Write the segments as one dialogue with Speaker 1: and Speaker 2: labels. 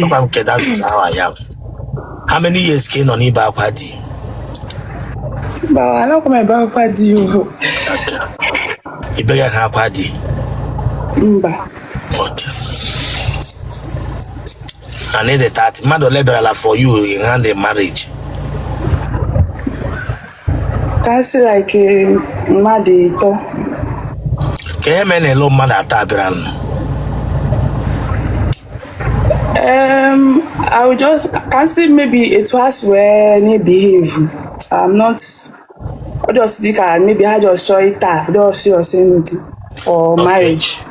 Speaker 1: Papa m kedu asụsụ ahụ a ya bụ? How many years ka ị na-ebe akwa di? Bawa anakwa m ebe akwa di ihu. Ị beghị ha akwa di? Mba. Okay. I need a 30. Mmadụ ole bịarala for your hand in marriage? ka m sị like mmadụ ịtọ ka ihe mere na elu mmadụ atọ a bịara nụ um, I will just ka m sị maybe etu ha si wee na-ebehave I'm not ọ just dị ka maybe ha just chọọ ịta dọsị ọsị ndụ for marriage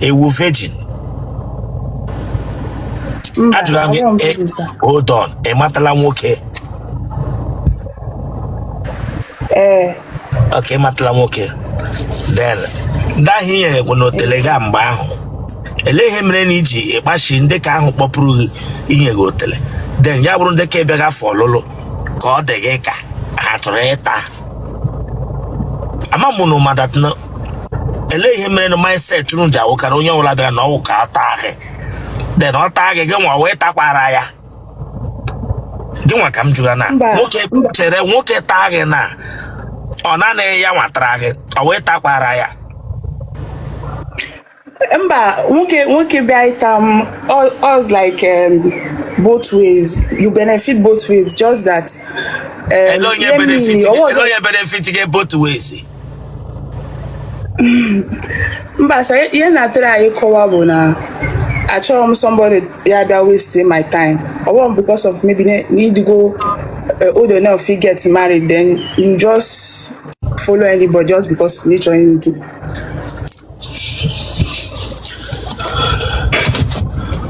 Speaker 1: ị wụ virgin Mba, ajụrụ gị awụghị m a virgin, sir. hold on ị matala nwoke Ee, ok ị matala nwoke then ndị ahụ i nyekwanụ otele gị mgbe ahụ ele ihe mere na iji ịkpachi ndị ka ahụ kpọpụrụ gị inye gị otele then ya bụrụ ndị ka bịa gị for ọlụlụ ka ọ dị gị ka ha chọrọ ịta ama m na ụma that na ele ihe mere na mindset unu ji awụkarị onye ọbụla bịara na ọ wụ ka ọ taa gị then ọ taa gị gị nwa wee takwara ya gị nwa ka m jụga na Mba, nwoke mba. chere nwoke taa gị na ọ naanị ya nwa tara gị nwa takwara ya mba nwoke nwoke bịa ịta m all all's like um, both ways you benefit both ways just that um, ele onye ihe benefit mmiri, gị- ọ wụ ele ọzọ- onye benefit gị both ways mba sa ihe m na-atry ịkọwa bụ na achọrọ m somebody ya-abịa waste my time ọ wụrụ m because of maybe na- na ị dịgo uh, old enough to get married then you just follow anybody just because na ị chọ anything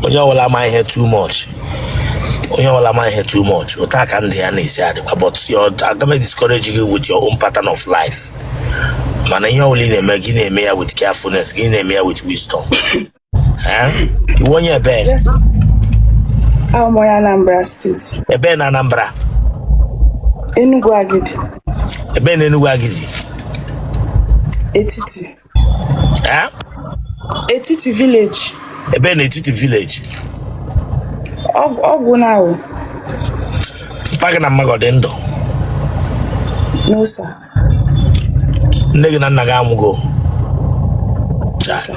Speaker 1: onye ọbụla ma ihe too much onye ọbụla ma ihe too much otu a ka ndụ ya na-esi adịkwa but agaghị m discourage gị with your own pattern of life mana ihe ọbụla ị na-eme gị na-eme ya with carefulness gị na-eme ya with wisdom Eh? ị wụ onye ebee Abụ m onye Anambra steeti. ebee na Anambra Enugu Agidi. ebee na Enugu Agidi etiti Eh? etiti village ebee n'Etiti village ọgwụ ọgwụ na awụ papa gị na mama gị ọ dị ndụ no sir nne gị na nna gị anwụgo Cha. sir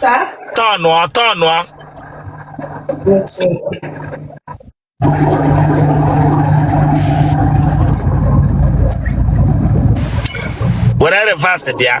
Speaker 1: Sir? Tọnụọ, tọnụọ. Network. Were reverse bịa.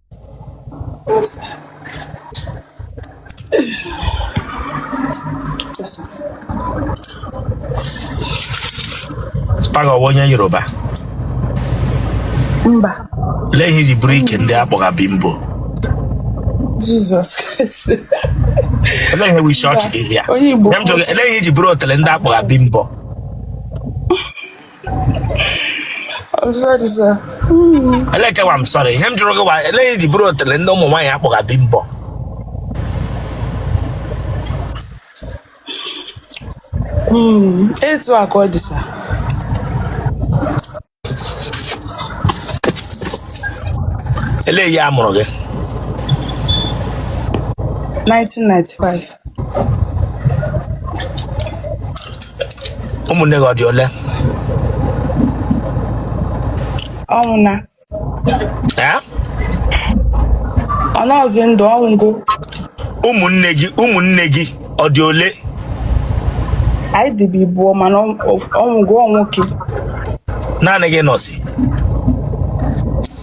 Speaker 1: Taghọwa onye Yoruba. Mba. Lee ihe i ji buru ike ndị a kpọga Bimbo. Jizọs Kraịst. Lee ihe bụ isi ọchị gị here. Onye Igbo. Ihe m jụrụ gị, lee ihe i ji buru otele ndị a kpọga Bimbo. I'm sorry, sir. Elee ke wụ I'm sorry. Ihe m jụrụ gị wụ elee ihe i ji buru otele ndị ụmụ nwaanyị a kpọga Bimbo. Hmm, etu a ka ọ dị sir. Elee year a mụrụ gị. 1995. ụmụnne gị ọ dị ole ọ nwụọna Eh? ọ nọzi ndụ ọ nwụgo ụmụnne gị ụmụnne gị ọ dị ole anyị dịbu ịbụọ mana ọ- ọ- ọ nwụgo ọ nwoke naanị gị nọzi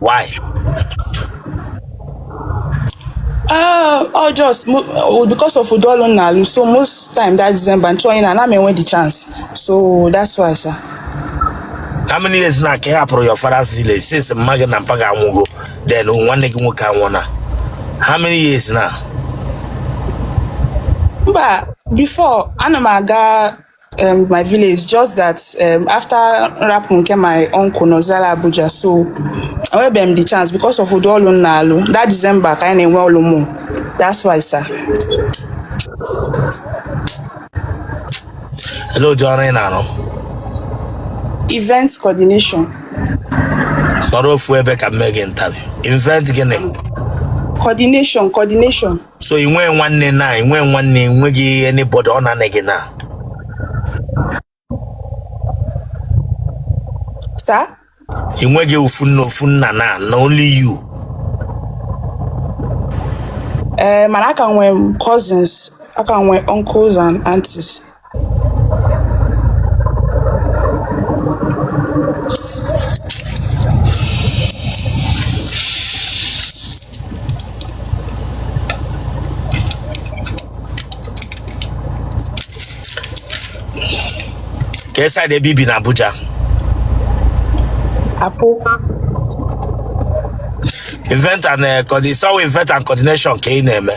Speaker 1: why Ah, ọ just mo- oh, because of ụdị ọlụ m na-alụ so most time that December m chọọ ịna ana m enwe the chance so that's why sir. how many years now ka ị hapụrụ your father's village since mma gị na mpa gị anwụgo then nwanne gị nwoke anwụọna how many years now mba before ana m aga um, my village just that um, after m rapụ nke my uncle nọzili Abuja so enwebeghị m the chance because of ụdị ọlụ m na-alụ that December ka anyị na-enwe ọlụ more that's why sir Elee ụdị ọrụ ị na-arụ event coordination nọrọ ofu ebe ka m mee gị interview event gịnị coordination coordination so ị nwee nwanne now ị nwee nwanne enweghị anybody ọ naanị gị now so ị nweghị ofu nne ofu nna now na only you ee eh, mana aka nwee cousins aka nwee uncles and aunties kee side ebe i bi na Abuja apụ event and eh, coordi- so ọ wụ event and coordination ka ị na-eme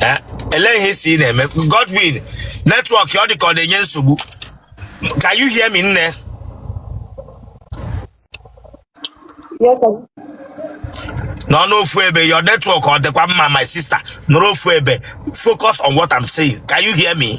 Speaker 1: Eh, elee ihe ị sị ị na-eme Godwin network ọ dị ka ọ na-enye nsogbu can you hear me nne Yes, sir. nọ n'ofu ebe your network ọ dịkwa mma my sister nọrọ ofu ebe focus on what i'm saying can you hear me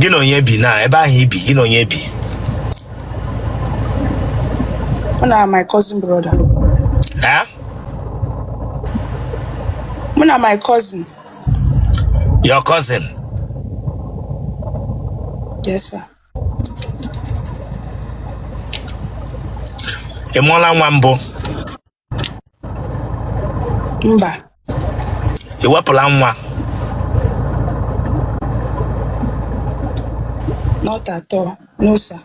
Speaker 1: gị na onye bi na ebe ahụ i bi gị na onye bi mụ na my cousin brother ha mụ na my cousin your cousin yes sir ị mụọla nwa mbụ mba ị wepụla nwa not at all no sir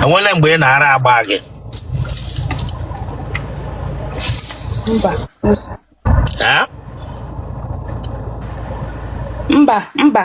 Speaker 1: e nweele mgbe ị na-ara agba gị mba no sir Eh? mba mba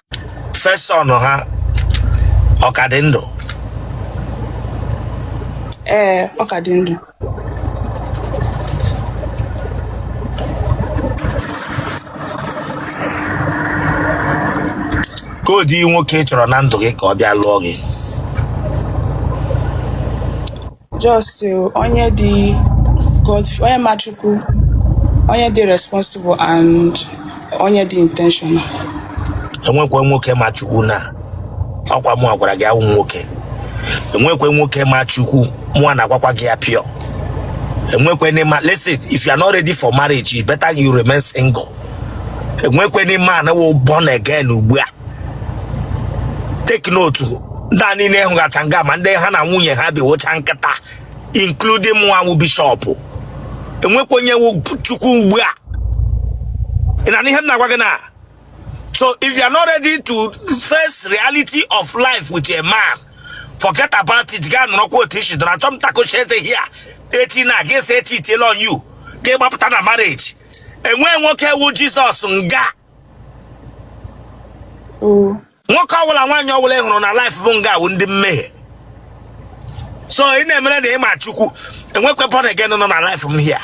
Speaker 1: first son ha ọ ka dị ndụ ee ọ ka dị ndụ kee ụdị nwoke ị chọrọ na ndụ gị ka ọ bịa lụọ gị just uh, onye dị God onye ma Chukwu onye dị responsible and onye dị intentional enwekwe nwoke ma Chukwu na ọkwa mụwa gwara gị awụ m nwoke enwekwe nwoke ma Chukwu mụ na-agwakwa gị ya pịọ enwekwe n'ime listen if you are not ready for marriage it's better you remain single enwekwe n'ime a na-wụ born again ugbu a take note ndị a niile ị hụgacha nga ma ndị ha na nwunye ha bi wụcha nkịta including mụnwa wụ bishop enwekwa onye chukwu ugbu a ị na-anụ ihe m na-agwa gị na so if you are not ready to face reality of life with a man forget about it gaa nọrọkwa otu i si dọrọ achọ m takochi eze hia echi na gị esi echi itiela on you gị gbapụta na marriage enwe nwoke wụ jizọs nga nwoke ọbụla nwaanyị ọbụla ị hụrụ na live m nga a wụ ndị mmehie so ị na-emere na ịma chukwu enwekwa born again nọ na live m here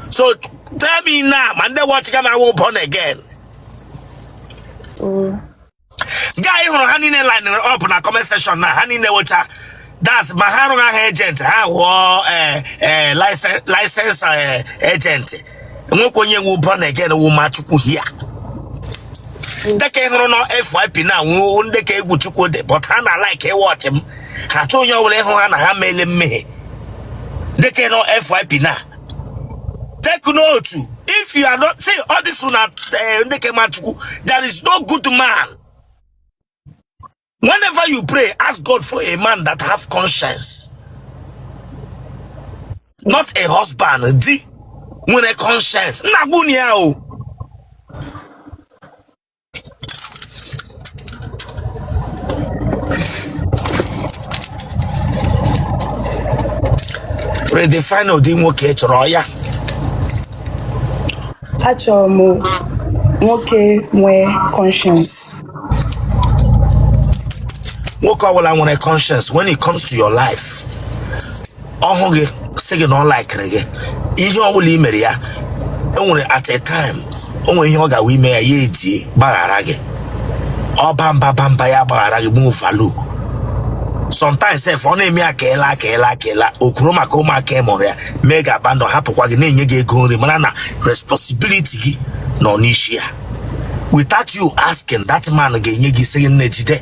Speaker 1: so tell me now ma ndị watchịga m wụ born again ga ị hụrụ ha niile linere up na comment section na ha niile wụcha das ma ha arụghị aha agent ha ghụọ eh, eh, license- license eh, agent o nwekwa onye wụ born again wụ ma chukwu here ndị nke ị hụrụ na fyp na wụ ndị nke egwu chukwu dị but ha na-alike ịwatchị m ha achọọ onye ọbụla ịhụ ha na ha meele mmehie ndị nke ị hụrụ fyp na take note if you are not see all this una eh, ndị kemachukwu there is no good man whenever you pray ask god for a man that have conscience not a husband di nwere conscience nna gbunia o redefine ụdị nwoke ị chọrọ oya achọrọ m nwoke nwee conscience nwoke ọbụla nwere conscience when it comes to your life ọ hụ gị sị gị na ọ likere gị ihe ọ bụla i mere ya o nwere at a time o nwere ihe ọ ga-awụ i mee ya ya edie gbaghara gị ọ baa mba baa mba ya gbaghara gị overlook sometimes sef ọ na-eme ya keela keela keela okwuru maka ụmụaka ị mụrụ ya mee gị abandon hapụkwa gị na-enye gị ego nri mara na responsibility gị nọ n'isi ya without you asking that man ga-enye gị sị gị nne jide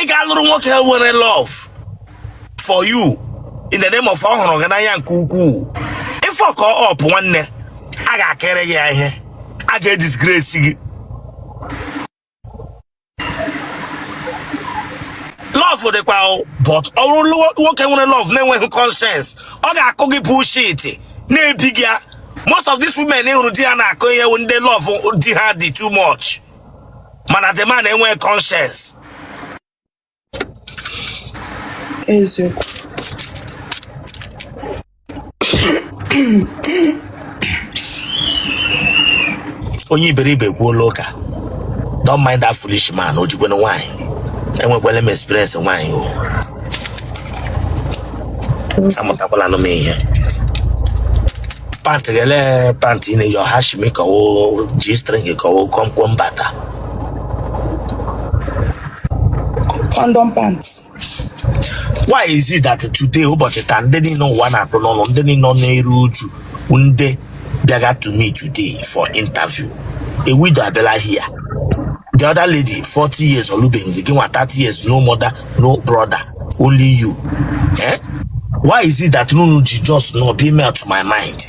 Speaker 1: ị ga-alụrụ nwoke nwere love for you in the name of ọ hụrụ gị n'anya nke ukwuu ị fuck up nwanne a ga-akere gị ya ihe a ga-edisgrace gị love dịkwa o, but ọ bụrụ lụọ- nwoke nwere love na-enweghị conscience ọ ga-akụ gị bullshit na-ebi gị ya. most of these women ị hụrụ di ha na-akụ ihe wụ ndị love di ha dị too much mana the man enweghị conscience eziokwu onye iberibe ekwuola ụka don't mind that foolish man o jikwere nwaanyị enwekwala m experience nwaanyị o amụtakwala anụ m ihe pant gele pant ị na-eyi ọha shimi ka ọ g-string ka ọ kwọmkwọm bata condom pants why is it that today ụbọchị taa ndị niile ụwa na-akpụ n'ọnụ ndị niile nọ na-eru uju ndị bịaga to me today for interview a widow abịala here the other lady 40 years olubeghị gị nwa 30 years no mother no brother only you eh? why is it that nunu ji just no be me to my mind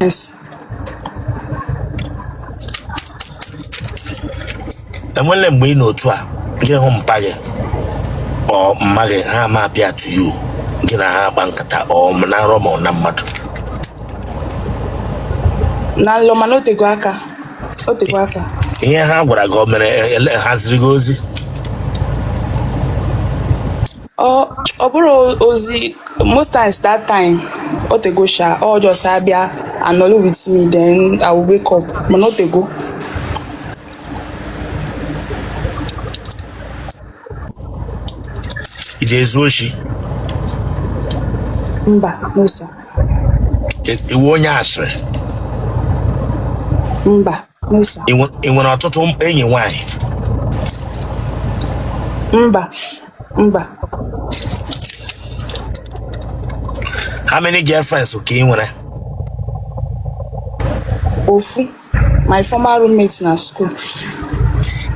Speaker 1: Yes. enwele mgbe ị nọ otu a gị hụ mpa gị or mma gị ha ama appear to you gị na ha akpa nkata ọ m- na nrọ ma ọ na mmadụ Na nlọ mana o tego aka. O tego aka. ihe ha gwara gị o mere ele- ha ziri gị ozi ọ ọ bụrụ ozi most times that time o tego sha ọ just abịa anọlụ with me then i will wake up mana o tego ị ga-ezu oshi mba no sir Ị- ị wụ onye asịrị mba no sir ị nwe- ị nwere ọtụtụ enyi nwanyị mba mba how many girlfriends ka ị nwere ofu my former roommate na school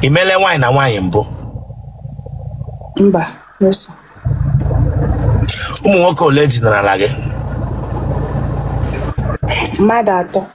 Speaker 1: ị meele nwaanyị na nwaanyị mbụ mba no sir ụmụ nwoke ole dinarala gị mmadụ atọ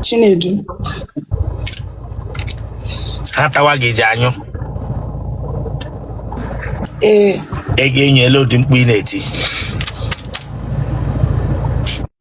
Speaker 1: Chinedu ha tawa gị ji anyụ ee ị ga-enyo ele ụdị mkpu ị na-eti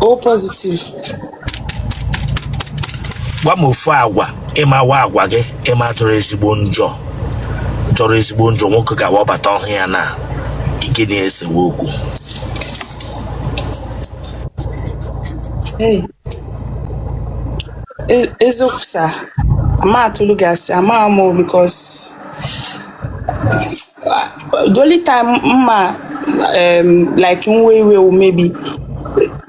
Speaker 1: O positive. gwa m ofu agwa ị ma wụ agwa gị ị ma jọrọ ezigbo njọ jọrọ ezigbo njọ nwoke ga-awụ ọ bata ọ hụ ya na ike na-esewe okwu Hey. E- Eziokwu sir. Ama m atụlụ gị asị. Ama amụ because the only time m ma um, like nwe iwe wụ maybe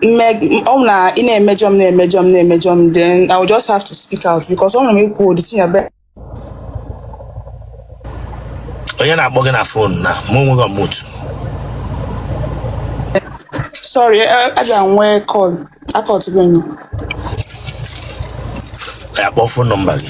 Speaker 1: mme- ọ bụ na ị na-emejọ m na-emejọ m na-emejọ m then I will just have to speak out because ọ nwere m ikwu ụdị si ya be onye na-akpọ gị na fon na mụ onwe gị mute sorry eh, a bịa nwee call akọtụbeghị m. ya kpọọ fon nọmba gị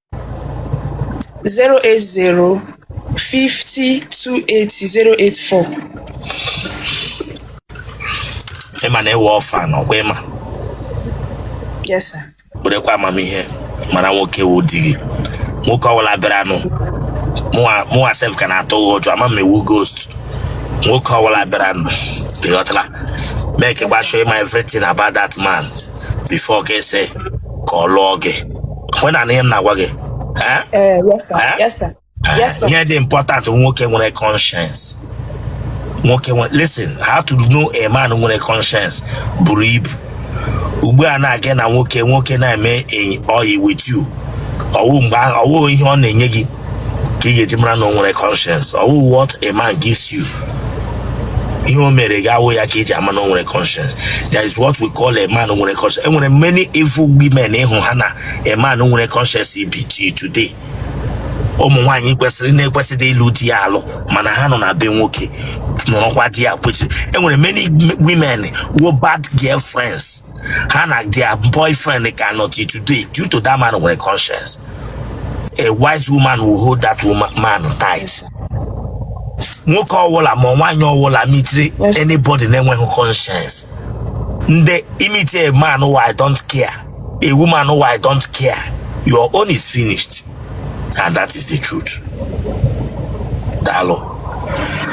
Speaker 1: zero eight zero fifty two eighty zero eight four. ị ma na ị wụ orphan ọkwa ị ma Yes, sir. werekwa amamihe mara nwoke wụ di gị nwoke ọbụla bịara anụ mụwa mụwa sef ka na-atụ gị ụjọ ama m ị wụ ghost nwoke ọbụla bịara anụ ịghọtala makekwa sure ị ma everything about that man before ị ga-asị ka ọ lụọ gị ị na-anụ ihe m na-agwa gị eh? Eh, yes, sir. Eh? Yes, sir. Yes, sir. ihe dị important nwoke nwere conscience nwoke nwere listen how to know a man nwere conscience buru ibu ugbu a na-aga na nwoke nwoke na-eme enyi- ọyị with you ọwụ mgbe ahụ- ọwụ ihe ọ na-enye gị ka ị ga-eji mara na o nwere conscience ọ wụ what a man gives you ihe o mere gị awụ ya ka eji ama na o nwere conscience that is what we call a man nwere conscience enwere many evil women ị hụ ha na a man nwere conscience bi till today ụmụ nwaanyị kwesịrị na-ekwesịdị ịlụ di alụ mana ha nọ na be nwoke nọrọkwa there kwechiri enwere many women wụ bad girlfriends ha na their boyfriend ka nọ till today due to that man nwere conscience a wise woman will hold that woman man tight nwoke ọwụla ma nwaanyị ọwụla mitiri anybody na-enweghị conscience and ị miti a man wụ I don't care a woman wụ I don't care your own is finished and that is the truth daalụ